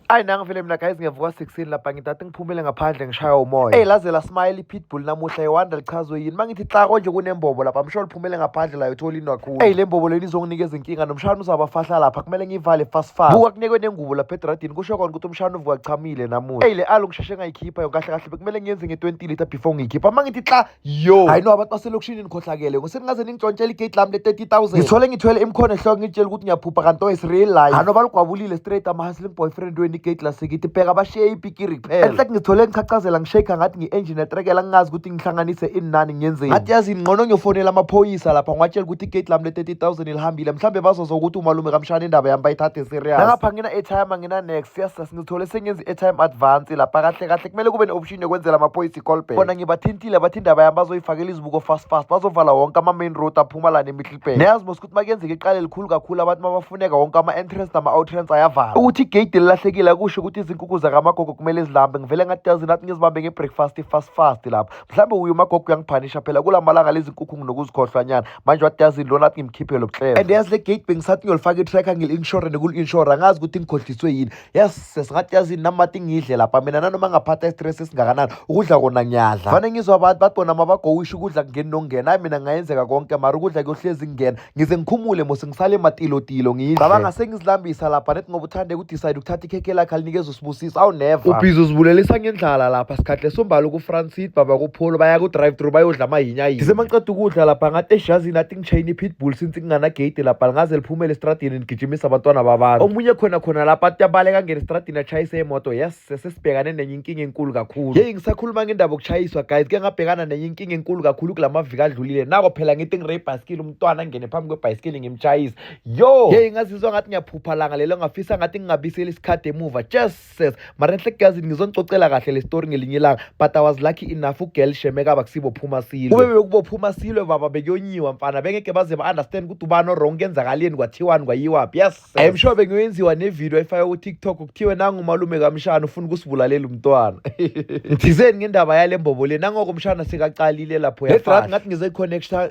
ayi nangivele mina guys ngiyavuka 16 lapha ngidade ngiphumele ngaphandle ngishaya umoya eyi laze lasmile ipitbull namuhla iwanda lichazwe yini uma ngithi xa konje kunembobo lapha msho liphumele ngaphandle layo thola into kakhulu eyi le mbobo leni izonginika izinkinga nomshana uzabafahla lapha kumele ngiyivale fast fast buka kunekwe nengubo lapha edradini kusho kona ukuthi umshana uvuka kuchamile namuhla eyi le alo ngisheshe ngayikhipha yonke kahle kahle bekumele ngiyenze nge-20 liter before ngiyikhipha uma ngithi xa yo hayi no abantu baselokishini nikhohlakele ngoseningaze ningitshontshela igate lami le-30000 ngithole ngithwele imkhono ehloko ngitshela ukuthi ngiyaphupha kanti o is real life hano balugwabulile straight ama-hustling boyfriend weni igate lasekithi bheka bashiye ipikiri kuphela enhlek ngithole ngichachazela ngishake ngathi ngi-engine etrekela ngingazi ukuthi ngihlanganise ini nani ngiyenzeni ngathi yazini ngqono ngiyofonela amaphoyisa lapha ngiwatshela ukuthi igate lami le-30000 lihambile mhlawumbe bazoza ukuthi umalume kamshana indaba yami bayithathe serious nangapha ngina-airtime angina-next yes sasingithole sengenza i-airtime advance lapha kahle kahle kumele kube ne-option ekhishini ekwenzela amaphoyisa icolbek bona ngibathintile bathi indaba yami bazoyifakela izibuko fast fast bazovala wonke ama-main road aphuma lana emihlibhek niyazi mos ukuthi makuyenzeka iqala elikhulu kakhulu abantu mabafuneka wonke ama-entrance nama-outrance ayavala ukuthi igeyidi lilahlekile kusho ukuthi izinkukhu zakamagogo kumele zilambe ngivele ngatyazi nathi ngizibambe ngebreakfast fast fast lapho mhlawumbe uye umagogo uyangiphanisha phela kula malanga lezi nkukhu nginokuzikhohlwanyana manje watyazi lona athi ngimkhiphe lo bhlelo and yazi le gate bengisathi ngiyolifaka i-tracker ngili-insurane kuli-inshora ngazi ukuthi ngikhohliswe yini yes sesingathi yazini namati ngidle lapha mina nanoma ngaphatha istress esingakanani ukudla kona ngiyadla fane ngizwa abantu bathi bona mabagowisha ukudla kungeni nokungena ayi mina ngayenzeka konke mara ukudla kuyohlezi kungena ngize ngikhumule mose ngisale matilotilo ngidle cabanga sengizilambisa lapha nethi ngoba uthande ukudicide ukuthatha ikhekhe lakhe alinikeza usibusiso awu never ubhizi uzibulelisa ngendlala lapha sikhathi lesombala ukufrancid baba kupholo baya ku-drive through bayodla amahinya yini ngisemaqeda ukudla lapha ngathi eshazini athi Chayini pitbull since kungana gate lapha lingaze liphumele estradini ligijimisa abantwana babantu omunye khona khona lapha athi abaleka angena estradini atshayise imoto yes sesibhekane nenye inkinga enkulu kakhulu yeyi ngisakhuluma ngendaba okuchayiswa guys ke ngabhekana nenye inkinga enkulu kakhulu kula maviki adlulile nako phela ngithi ngire ibhayisikili umntwana angene phambi kwebhayisikili ngimchayise yo yeyi ngazizwa ngathi ngiyaphupha langa lelo ngafisa ngathi ngingabiseli isikhathi emuva just success mara enhle kuyazini ngizonixoxela kahle le story ngelinye ilanga but i was lucky enough ugirl shemeka bakusibophuma silwe kube bekubophuma silwe baba bekuyonyiwa mfana bengeke baze ba-understand ukuthi ubani orong kenzakaleni kwathiwani kwayiwaphi yes i am sure bengiyoyenziwa nevidiyo efake kutiktok kuthiwe nangumalume kamshana ufuna ukusibulalela umntwana ngithizeni ngendaba yale mbobo le nangoko umshana sekaqalile lapho yafahla ngathi ngize connecta